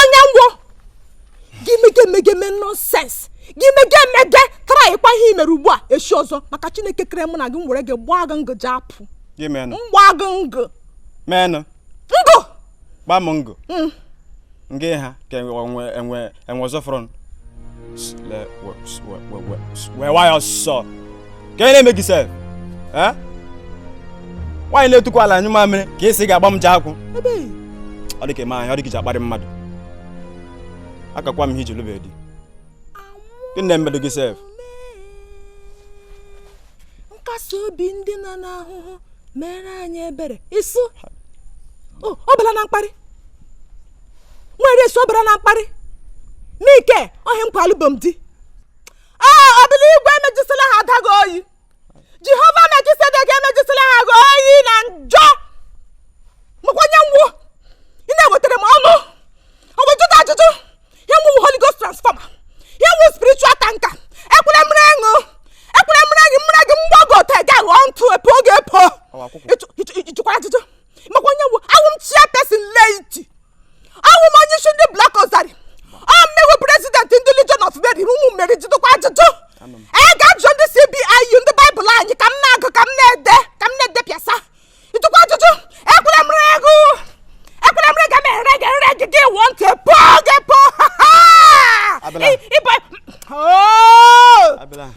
onye ngwo gị mege emege mee nonsense gị mege emege trykwa ihe i mere ugbu a echi ọzọ maka chineke kere mụ na gị m were gị gbaa gị ngụ ji apụ mgba gị ngụ men ngụ gbaa m ngụ mm. ngị ha ka enwe ọzọ front wee wa ya ọsọ gịnị na-eme gị sef Eh? nwaanyị na-etukwu ala anyụ mamịrị ka esi ga-agba m ji akwụ ebe ọ dị ka eme ahịa ọ dị ka iji akparị mmadụ akakwa m ihe i ji lụbe di gịnị na-emedo gị sef nkasi obi ndị nọ n'ahụhụ mere anyị ebere ịsụ o ọ bụla na mkparị nwere sobara na mkparị n'ike ohi nkwa alụbom di ee ọbụla igwe emejisila ha adaghị oyi jehova mejisedega emejisila ha gị oyi na njọ makwa onye m wụ ị na-ewetara m ọnụ ọgwụjụta ajụjụ ihe m wụ holy ghost transformer ihe m wụ spiritual tanker ekwele m ree gị o ekwele m ree gị m ree gị mgbagọta gị aghọọ ntụ e poo gị epo ị jụkwara ajụjụ makwa onye m wụ awụ m chairperson laity awụ m onye isi ndị Block Rosary ọ m wụ president ndị legion of mary ụmụ Meri jụtụkwa ajụjụ gaa jụọ ndị cbiu ndị Bible anyị ka m na-agụ ka m na-ede ka m na-edepịasa ị jụkwa ajụjụ ekwele m ree gị o ekwele m ree gị m ree gị ree gị gị wụọ ntụ e poo gị epo Abịala. ịbụ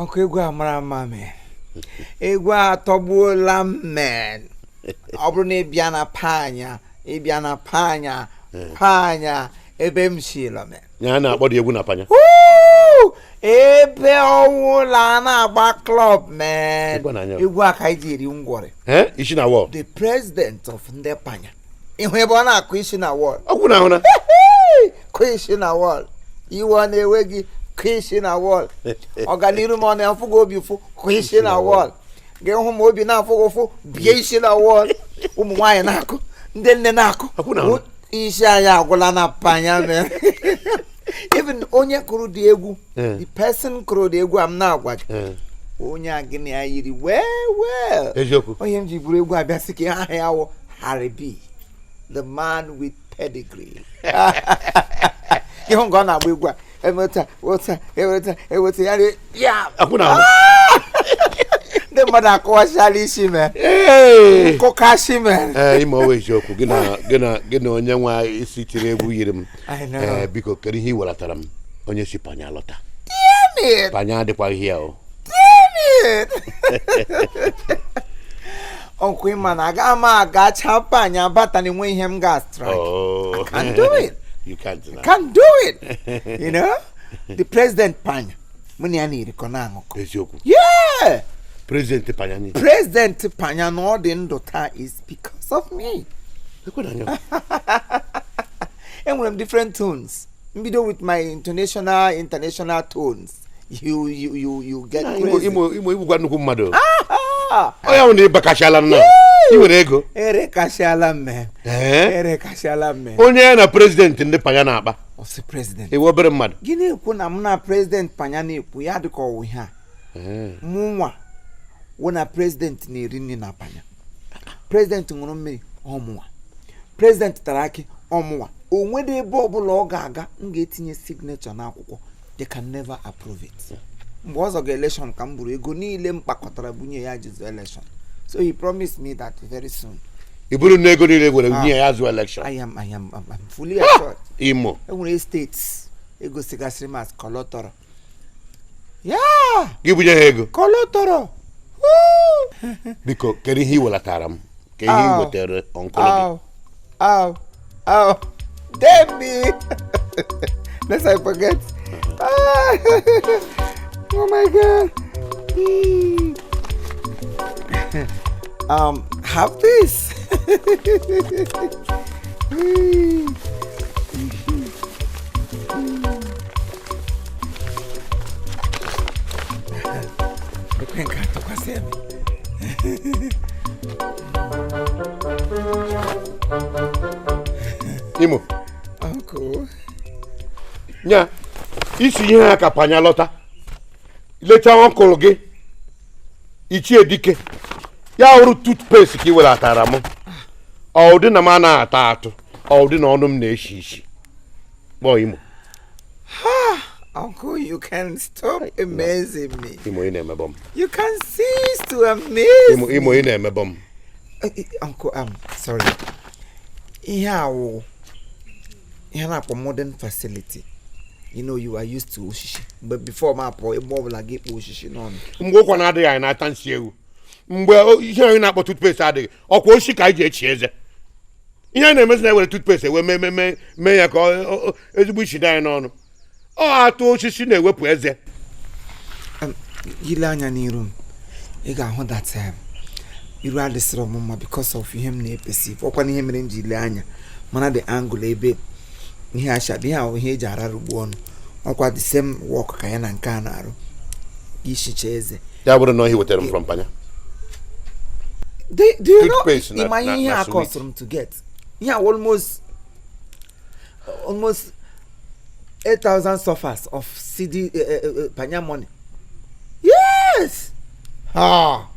ọkụ egwu a mara mma men egwu a atọgbuola m men ọ bụrụ na ị bịa na panya ị bịa na panya panya ebe m si lọ men ya a na-akpọ the egwu na panya ebe ọwụla a na-agba club men egwu a ka anyị ji eri ngwọrị Eh, isi na wall the president of ndị panya ị hụ ebe ọ na-akụ isi na wall ọkụ na ahụ na kụ isi na wall iwe ọ na-ewe gị kụ isi na wall ọganiru m ọ na-afụ gị obi ụfụ kụ isi na wall gị hụ m obi na-afụ gị ụfụ bie isi na wall ụmụ nwaanyị na-akụ ndị nne na-akụ Ọkụ na ahụ. isi anyị agwụla na panya men even onye kụrụ the egwu Eh. the person kụrụ the egwu a m na-agwa gị Eh, onye a gị na ya yiri well well eziokwu onye m ji buru egwu a bịa sị ka aha ya wụ Harry B the man with pedigree ịhụ nke ọ na-agba egwu a emeta weta eweta eweta ya rie- ya akwụ na ahụ ndị mmadụ akụwachala isi mee Ee. nkụkasị mere ee ime ọwa eziokwu gị na gị na gị na onye nwa isi tiri egwu yiri m I know. ee biko kedu ihe ị welatara m onye si panya lọta Damn it. panya adịkwaghị ya o ọkwa ịma na aga m agacha panya bata na enwe ihe m ga strike oh. I can't do it you can't deny. can do it you know the president panya mụ na ya na-erikọ na-aṅụkọ eziokwu yeah president panya ni president panya na ọ dị ndụ taa is because of me enwere m different tones m bido with my international international tones you you you you get crazy. imo imo ị bụkwa nnukwu mmadụ Ah, ọ ya wụ na ị bakashala nna i nwere ego ere kashala mme Ee? ere kashala mme onye ya na prezidenti ndị panya na-akpa ọsị president ị wụ obere mmadụ gị na-ekwu na mụ na president panya na-ekwu ya dịka ọ wụ ihe a mụ nwa wụ na president na-eri nri na panya president ṅụrụ mmiri ọ mụwa president tara akị ọ mụwa o nwere ebe ọbụla ọ ga-aga m ga-etinye signature n'akwụkwọ they can never approve it mgbe ọ zọga election ka m buru ego niile m kpakọtara bunye ya ji zụọ election so he promised me that very soon i buru na ego niile gị nwere nye ya zụọ election I am, I am, I'm, I'm fully assured imo enwere state e gosigasịrị m as collateral yeah gị bunye ha ego collateral Woo! biko kedu ihe ị welatara m kee ihe ị wetaara uncle gị Oh, oh, damn it! Lest I forget. Ah, oh my god. Mm. um, have this. ekwe nke atụkwasị ebe imo uncle nya i si ihe ha ka panya lọta lecha uncle gị ichie dike ya wụrụ toothpaste ka ị welatara m ọ wụdị na m anaghị ata atụ ọ wụdị na ọnụ m na-eshi ishi gbọọ imo Uncle, you can stop amazing me. Imo ị na-emebọ m. You can cease to amaze me. Imo ị na-emebọ m. Eh, eh, Uncle, I'm um, sorry. Ihe a wụ ihe a na-akpọ modern facility. You know you are used to oshishi. But before m apụ ebe ọ bụla gị kpọ oshishi n'ọnụ. Mgbe ụkwa na-adịghị anyị na-ata nsị ewu. Mgbe ihe anyị na-akpọ toothpaste adịghị, ọkwa oshishi ka anyị ji echi eze. ihe a na-emezi na-ewere toothpaste wee mee mee mee mee ya ka ọ- ọ- ọ- ezigbo isi dị anyị n'ọnụ ọ atụ osisi na-ewepụ eze Em, ile anya n'iru m ị ga-ahụ that em, iru adịsịrọ m mma because of ihe m na-eperceive ọkwa na ihe mere m ji ile anya mara the angle ebe ihe ashad ihe ahụ ihe eji ararugbu ọnụ ọkwa the same work ka ya na nke a na-arụ ishicha eze ya bụrụ na ihe wetara m from panya do you know ị ma ihe ọ cost m to get ihe a almost almost 8000 CFAs of cedi uh, uh, panya money yes ah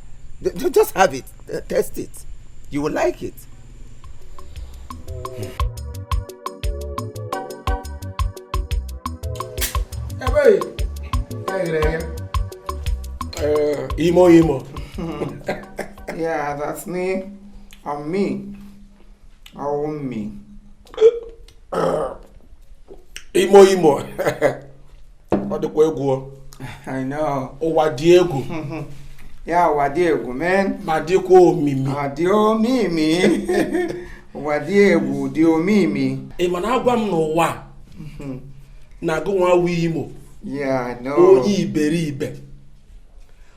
just have it uh, test it you will like it Eh, imo imo yeah that's me i'm me oh me imo imo ọ dịkwa egwu ụwa dị egwu yeah ụwa dị egwu man ma dịkwa omimi ọ dị omimi ụwa dị egwu dị omimi ị ma na agwa m n'ụwa mhm. na gịnwa wụ imo onye iberibe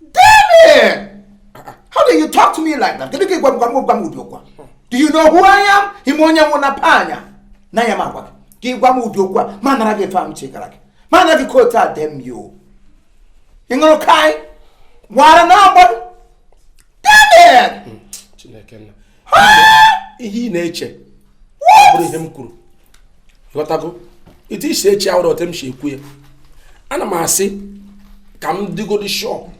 Damn it! How do you talk to me like that? Kedu ka ịgwa gwa m gwa m ụdị okwu Do you know who I am? Ị ma onye m wụ na panya. Na ya m agwa gị. Ka ịgwa m ụdị okwu a m anara gị efe ahụ chekara gị. M anara gị kootu a damn you. Ị ṅụrụ kaị? Wara na agbọ? Damn it! Chineke nna. ihe ị na-eche abụrọ ihe m kwuru ghọtago etu i si eche awụrọ otu m si ekwu ya ana m asị ka m dịgodi sure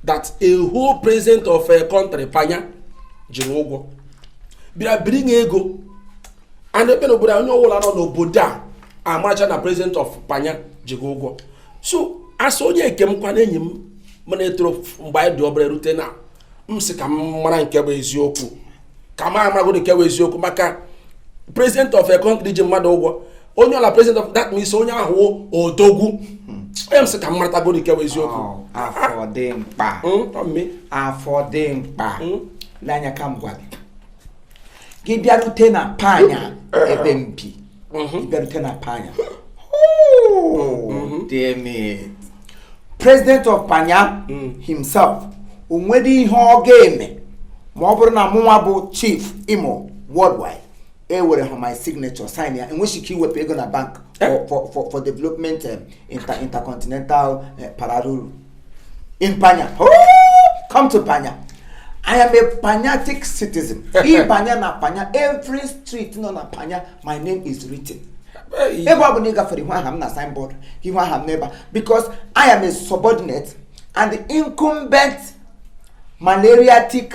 that a whole president of a country panya ji gị ụgwọ bịara biri nye ego and ebe n'obodo onye ọbụla nọ n'obodo a amacha na president of panya ji gị ụgwọ so asị onye nke m kwana enyi m mụ na ya toro mgbe anyị dị obere rute na m sị ka m mara nke bụ eziokwu ka m amagodo nke bụ eziokwu maka president of a country ji mmadụ ụgwọ onye ọla president of that means onye ahụ odogwu onye m sị ka m maratagodo nke bụ eziokwu oh, afụ dimkpa hmm, afụ dimkpa hmm? lee anya ka m gwa gị gị bịarute na panya ebe m bi mhm. ị bịarute na panya damn it. president of panya mm. himself o nwere ihe ọ ga-eme ma ọ bụrụ na mụnwa bụ chief imo worldwide ewere ha my signature sign ya enweghị ike iwepụ ego na bank eh? for for for development um, intercontinental uh, parallel in Panya. Oh, come to Panya. I am a Panyatic citizen. In Panya na Panya, every street nọ na Panya, my name is written. Ebe ọ bụla ị gafere ị hụ aha m na signboard, ị hụ aha m n'ebe because I am a subordinate and incumbent malariatic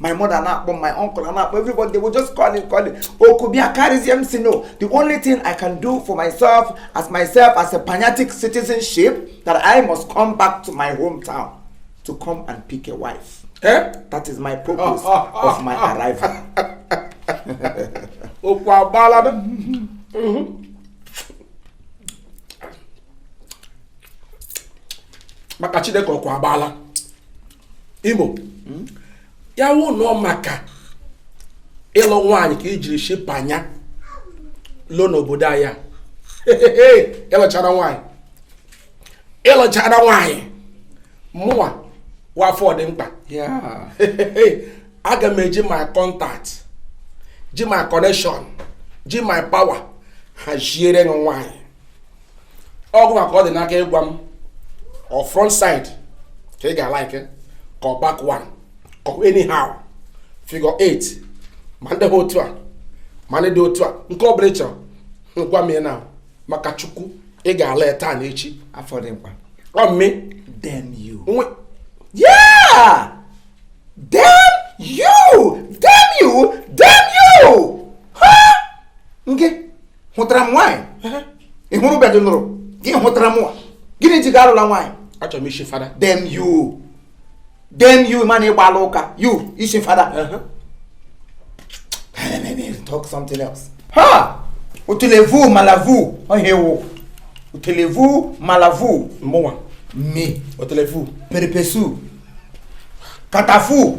my mother na-akpọ my uncle na-akpọ everybody they will just call it call it oku bịa carries m si no the only thing i can do for myself as myself as a panatic citizenship that i must come back to my hometown to come and pick a wife eh? that is my purpose oh, oh, oh, of my arrival okwu agbala maka chineke ọkwa agbala imo hmm? ya wụ na ọ maka ịlụ nwaanyị ka i jiri shi panya lọ n'obodo anyị ịlụchara nwaanyị ịlụchara nwaanyị mụwa wụ afọ dị mkpa aga m eji my contact ji my connection ji my power haziere nwaanyị ọ gị nwa ka ọ dị n'aka ịgwa m ọ front side ka ị ga-alike ka ọ back one ka ọ anyhow figure 8 ma ndị ha otu a ma ndị dị otu a nke ọ bụla ị chọrọ gwa m na maka chukwu ị ga-alụ ya taa na echi afọ dị mkpa oh me damn you yeah damn you damn you damn you ha nke hụtara m nwaanyị ị hụrụ bedị nụrụ gị hụtara mụwa gịnị ji gị alụla nwaanyị achọrọ m isi fada damn you damn you man ị gbaala ụka you isi fada talk something else ha otelevu malavu oh ewo otelevu malavu mụnwa me otelevu perepesu katafu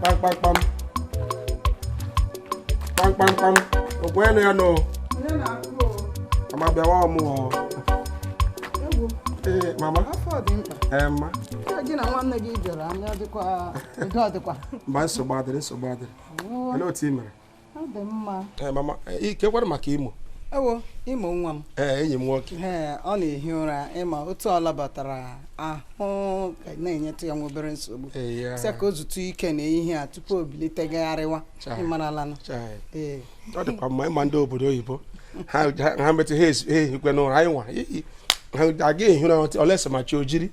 kpamkpamkpam kpamkpamkpam okwenu ya nọ mama bịawa ọmụọ ee mama ee mma mba nsogbu adịrị nsogbu adịrị olee otu ị mere ọ dị mma ee mama kekwanụ maka imo ewo imo nwa m ee enyi m nwoke ee ọ na-ehi ụra ị ma otu ọ labatara ahụ na-enyetụ ya nwa obere nsogbu sị ka o zutu ike n'ehihie a tupu o bilite gagharịwa ị maralanụ ee ọ dịkwa mma ị ma ndị obodo oyibo ha metụ ha ehikwe n'ụra anyị nwa aga ehi ụra unless ma chi o jiri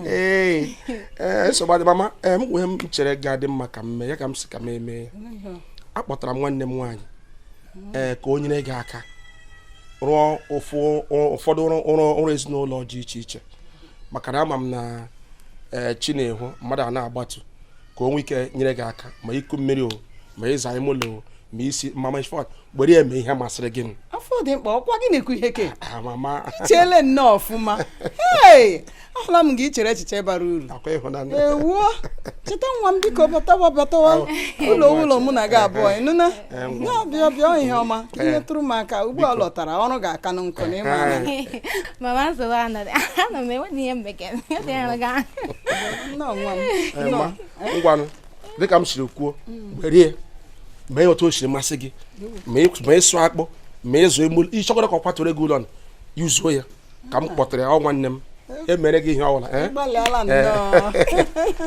ee ee nsogbu adị mama ee m nwee ihe m chere ga-adị mma ka m mee ya ka m si ka m emee ya akpọtara m nwanne m nwaanyị ee ka o nyere gị aka rụọ ụfụ- ụrụ- ụfọdụ ọrụ ezinụlọ dị iche iche maka na ama m na ee chi na-ehu mmadụ a na-agbatu ka o nwee ike nyere gị aka ma iku mmiri o ma ịza ime ụlọ o ma isi mama in fact were ya mee ihe masịrị gị afọ dị mkpa ọ kwa gị na-ekwu ihe nke a i cheele nnọọ ọfụma ahụla m gị i chere echiche bara uru ewo cheta nwa m biko batawa batawa oh, ụlọ oh, ụlọ mụ na gị abụọ eh, eh. ị nụna eh, bịa bịa bịa ihe ọma ihe tụrụ m aka ugbu a lọtara ọrụ ga-aka na nkụ na ịma mama nsogbu anọdụ anọ m enweghị ihe mbekere nnọọ nwa m ngwanụ dịka m siri kwuo were ya mee otu o siri masị gị ma ịsụ akpụ ma ịzụ emu ịchọkwara ka ọ kwatụrụ gị ụlọ yuzuo ya ka m kpọtara ya ọ nwanne m emere gị ihe ọbụla eh? eh.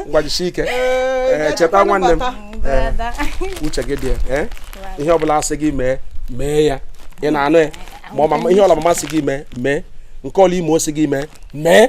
ngwa jisie ike eh, cheta nwanne m uche gị dị ya ihe ọbụla a sị gị mee mee ya ị na-anụ ya ma ihe ọla mama sị gị mee mee nke ọla Imo sị gị mee mee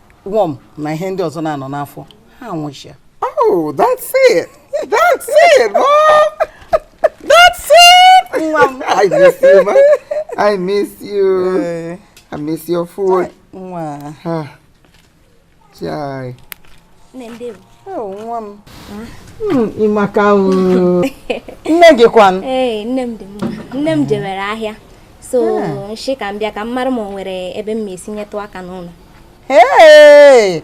worm na ihe ndị ọzọ na-anọ n'afọ ha anwụchia oh that's it that's it oh that's it nwa m i miss you ma i miss you eh. i miss your food nwa ha chai nne ndị m oh, nwa m hmm, ị maka nne gị kwan ee nne m dị mma nne m jewere ahịa so m shị ka m bịa ka m mara ma o nwere ebe m ma esi nyetụ aka n'ụlọ ee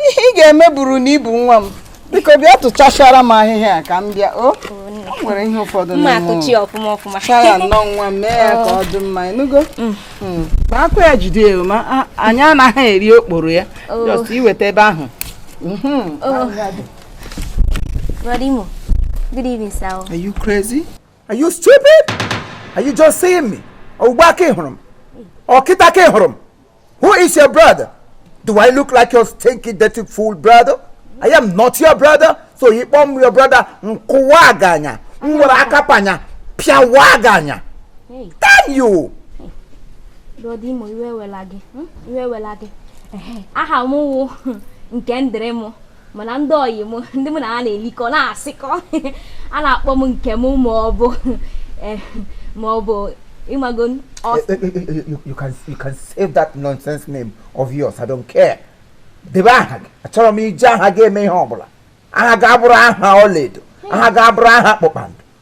ihe ị ga-eme bụrụ na ị bụ nwa m biko bịa tụchachara m ahịhịa ka m bịa o nwere ihe ụfọdụ chaya nnọọ nwa m mee ya ka ọ dị mma ị nụgo mm. mm. ma akwa ya jide ya ma anyị anaghị eri okporo ya oh. just iweta ebe ahụ mm-hmm. oh. Good evening, sir. Are you crazy? Are you stupid? Are you just seeing me? Ugbu a ka ị hụrụ m? Ọ kịtaa ka ị hụrụ m? Who is your brother? Do I look like your stinky dirty fool brother? I am not your brother. So ị kpọọ m your brother m kụwaa gị anya. M were aka Panya pịawaa gị anya. Damn you! Brother Imo iwe ewela gị. Iwe ewela gị. Aha m wụ Nkemdịrịm. mana ndị ọyị m ndị mụ na ha na-elikọ na-asịkọ a na-akpọ m Nkem ma ọ bụ eh, ma ọ bụ ị mago eh, eh, you can you can save that nonsense name of yours I don't care debe aha gị achọrọ m iji aha gị eme ihe ọ bụla aha gị abụrụ aha ọlaedo aha gị abụrụ aha kpakpando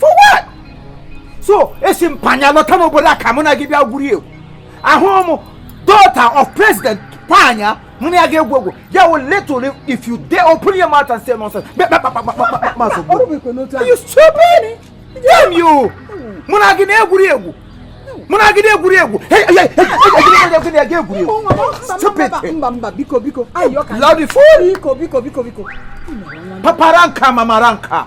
for what so esi m Panya lọta n'obodo a ka mụ na gị bịa gwuri egwu ahụrụ m daughter of president Panya mụ na ya ga-egwu egwu ya wụ little if you dare open your mouth and say nonsense you stupid damn you mụ na gị na-egwuri egwu mụ na gị na-egwuri egwu egwuri egwu stupid papa raa m aka mama raa m aka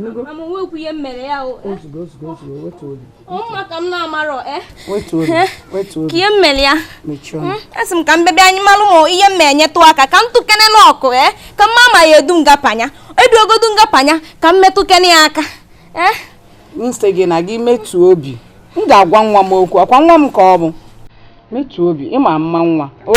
mama nwekwu ihe mere ya maka m na-amarọ eh? eh? ka ihe mere ya hmm? asị m ka m bebe anyị malụ ma ihe m enyetụ aka ka m tụkene n'ọkụ eh? ka m ma ma ya edu nga Panya edu ogodu nga Panya ka m metụkene ya aka m sị gị na gị wetuo obi m ga-agwa nwa m okwu ọ kwa nwa m ka ọ bụ wetuo obi ịma mma nwa o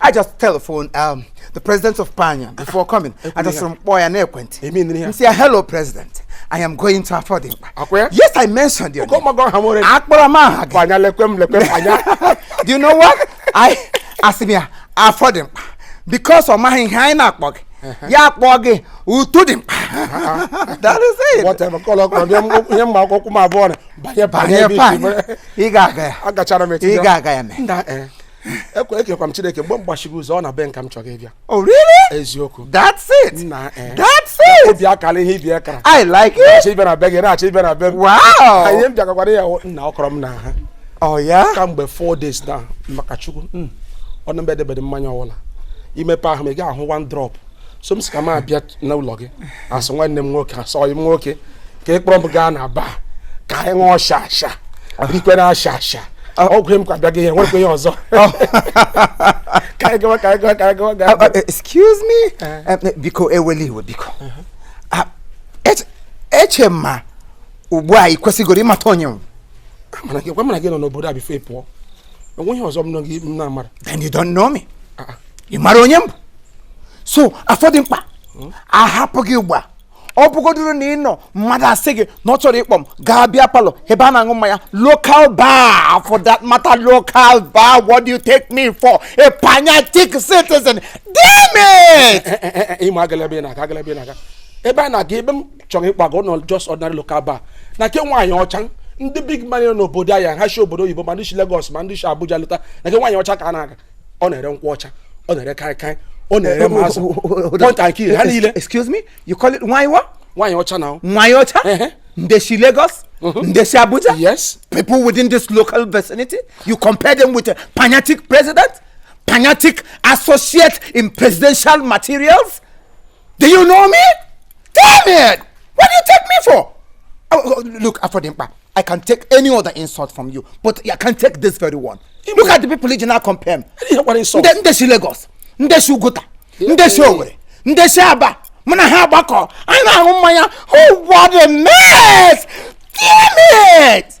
I just telephoned um, the president of Panya before coming. I just from boy and equent. He said, hello, president. I am going to afọ dị mkpa. Yes, I mentioned your name. Do you know what? he asked me, afọ dị mkpa amaghị aha ya akpọ gị utu dị mkpa ihe mma akwụkwọ m abụọ banye banye ị ga-aga ya agachara m ị ga-aga ya mee ekwe ekekwa m chineke mgbe m gbachiri ụzọ ọ na be nka m chọrọ ịbịa Oh, really? eziokwu That's it. nna eh, That's it. obi akara ihe ibi akara I like it. achọ ịbịa na be gị na-achọ ịbịa na be m Wow. ihe m bịagakwara ya hụ nna ọ kọrọ m na ha Oh, yeah? kamgbe 4 days na maka chukwu mm, ọnụ mbe edebede mmanya ọwụla i mepee ahụ m ị ga ahụ one drop so m si ka m abịa n'ụlọ gị as nwanne m nwoke as ọyị m nwoke ka ị kpọrọ m gaa na bar ka anyị ṅụọ shasha rikwe na shasha ọgwụ m kwa bịaghị ihe nwekwa ihe ọzọ ka anyị gawa ka anyị gawa ka anyị gawa gaa Uh, uh, excuse me Eh. Eh, biko ewela iwe biko Ah, eche- eche m ma ugbu a ị kwesịgoro ịmata onye m mana gị gwa mụ na gị nọ n'obodo a before ị pụọ enweghị ọzọ m nọ gị m na-amara then you don't know me Ah, ah. ị mara onye m bụ so afọ dị mkpa ahapụ gị ugbu a ọ bụgodoro na ị nọ mmadụ asị gị na ọ chọrọ ịkpọ m gaa beer parlour ebe a na-aṅụ mmanya local bar for that matter local bar what do you take me for a Panyatic citizen damn it eh, eh, eh, ịma agala ebe ị na-aga agala ebe ị na-aga ebe a na-aga ebe m chọrọ ịkpọga not just ordinary local bar na nke nwaanyị ọcha ndị big man n'obodo anyị ha si obodo oyibo ma ndị si Lagos ma ndị si Abuja lọta na nke nwaanyị ọcha ka a na-aga ọ na-ere nkwụ ọcha ọ na-ere kaikai ọ na-ere eh, ma azụ oh, oh, oh, point and kill ha niile excuse me you call it nwanyị what nwanyị ọcha na nwanyị ọcha ndị si Lagos mm-hmm. ndị si Abuja yes people within this local vicinity you compare them with a Panyatic president Panyatic associate in presidential materials Do you know me? Damn it! What do you take me for? Oh, oh, look, Afodimpa, I can take any other insult from you, but I can take this very one. Look at the people you now compare me. What insult? Nde, nde si Lagos, nde si Uguta, nde si Owerri, nde si Aba, muna ha agbakọ, anyị na-aṅụ mmanya, oh what a mess! Damn it!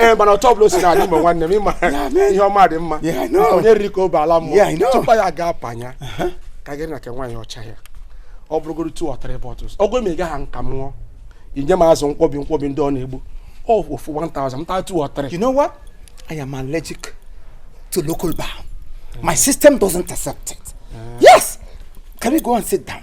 ee mana otu ọbụla o si na-adị mgbe nwanne m ịma ihe ọma dị mma Yeah, I know. onye riri ka o bu ala Yeah, I mmụọ know. tupu ya gaa panya ka agara na nke nwaanyị ọcha ya ọ bụrụgoro two or three bottles ọgụ eme gaghị nka m ṅụọ inye m azụ nkwọbi nkwọbi ndị ọ na-egbu ọ ofu 1000 m taa two or three You know what? I am allergic to local bar. My system doesn't accept it. Yes. Can we go and sit down?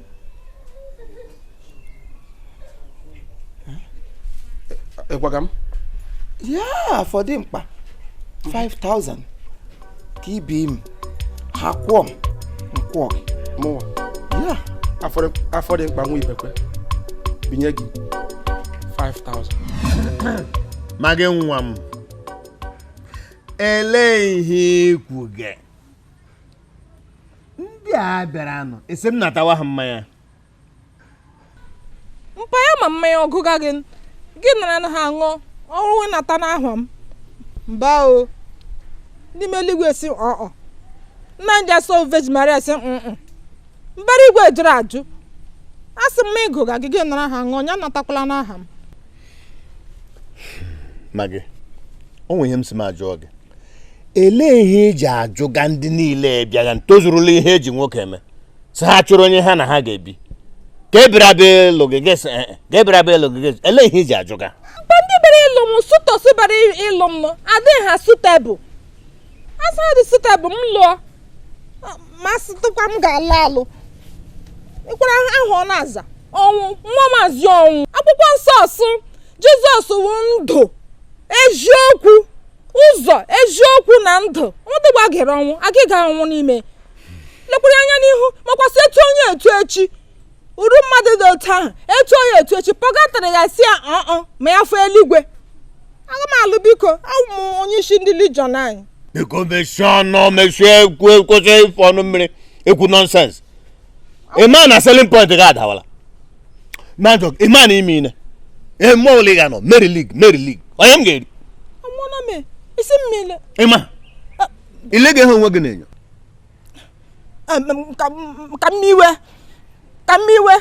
ị gwaga m ya afọ dị mkpa 5000 ka i bii m ha kwụọ m m kwụọ gị mụwa ya afọ dị mkpa nwa Ibekwe binye gị 5000 ma gị nwa m elee ihe i kwuge ndị a bịara anụ esi m natawa ha mmanya mpa ya ma mmanya agụga gị gị nara na ha ṅụọ ọrụ wee nata n'aha m mba o ndị ime eluigwe sị ọọ nna ndị nsọ Virgin Maria sị mm mbara igwe jụrụ ajụ a sị m agụga gị gị nara ha ṅụọ ya natakwala n'aha m ma gị o nwe ihe m sị m ajụọ gị elee ihe eji ajụga ndị niile bịaga ntozurula ihe eji nwoke eme sị ha chọrọ onye ha na ha ga-ebi ka ebiri abịa elu gị gị sị, "Eh, eh, ka ebiri abịa elu gị gị sị, elee ihe eji ajụga ndị bịara ịlụ m suitors bịara ịlụ m nọ adịghị ha suitable a sị ha dị suitable m lụọ ma sị tụkwa m ga-alụ alụ ịkwara ahụ ọ na-aza ọnwụ nwa maazị ọnwụ akwụkwọ nsọ sụ jizọs wụ ndụ eziokwu ụzọ eziokwu na ndụ mmadụ gbagere ọnwụ agịga ọnwụ n'ime lekwara anya n'ihu makwa sị etu onye etu echi uru mmadụ dị otu ahụ etu onye etu echi pọgatara ya sị ya ọọ ma ya fụ eluigwe aga m alụ biko awụ m onye isi ndị Legion anyị biko mechie ọnụ mechie ekwu kwụsị ịfụ ọnụ mmiri ekwu nonsense ị ma na selling point gị adawala na njọ ị ma na ime ine eme ole ị ga-anọ Mary League Mary League onye m ga-eri Amụọla m isi mmiri. ị ma ile ga-ehe onwe gị na-enyo Em, em, Ka m- ka m iwe. Ka m iwe.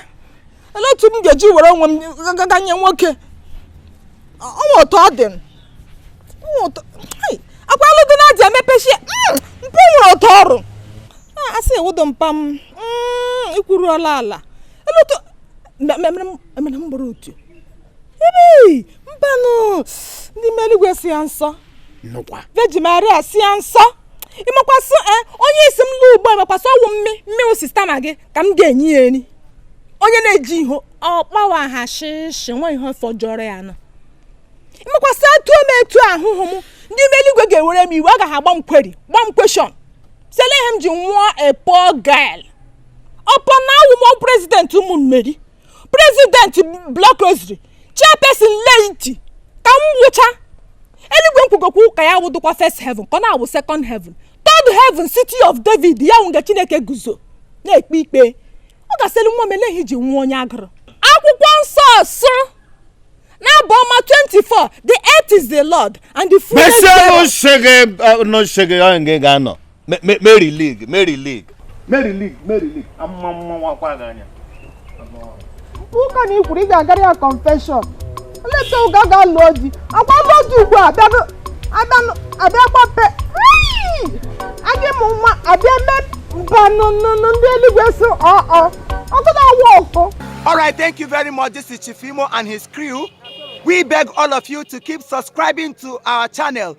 Olee otu m ga-eji were onwe m gaa nye nwoke? O nwe otu ọ dị m. O nwe otu. Akwa alụ di na adị emepechi hmm, mpe nwere ụtọ ọrụ. Asị ewudo mpa m hmm, ikwuru ọla ala. Olee otu emere m gbara otu. Ebe mbanụ ndị ime eluigwe sị ya nsọ. Nnukwa. Virgin Maria sị ya nsọ. ị makwa sị eh, onye ị sị m lụọ ugbu a makwa sị ọ wụ mme mme osistama gị ka m ga-enye ya nri onye na-eji ihe ọkpawa ha shịshị nwa ihe fọjọrọ ya nọ ị makwa sị atụ m etu ahụhụ m ndị ime eluigwe ga-ewere m iwe aga ha agba m query gba m question sị elee ihe m ji nwụọ a poor girl upon na awụ m president ụmụ Mary president block rosary chairperson laity ka m wụcha eluigwe m kwugakwa ụka ya wụdụkwa first heaven ka ọ na-awụ second heaven third heaven city of david ya wụ nga chineke guzo na-ekpe ikpe ọ ga-asịrị nwa m elee ihe i ji nwụọ onye agụrụ akwụkwọ nsọ sụ n'abụ ọma 24 the earth is the lord and the fullness thereof. n'oche gị eh, n'oche gị onye gị ga-anọ Mary League Mary League Mary League Mary League amụma mawakwa gị anya ụka na i kwuru ị ga-agara ya confession later ị ga-aga lụọ di agwa lụọ di ugbu a abịakwa pe adị m nwa abịa mee mba nụnụnụ ndị eluigwe si ọọ ọkụ na-awa ọkụ All right, thank you very much. This is Chief Imo and his crew. We beg all of you to keep subscribing to our channel.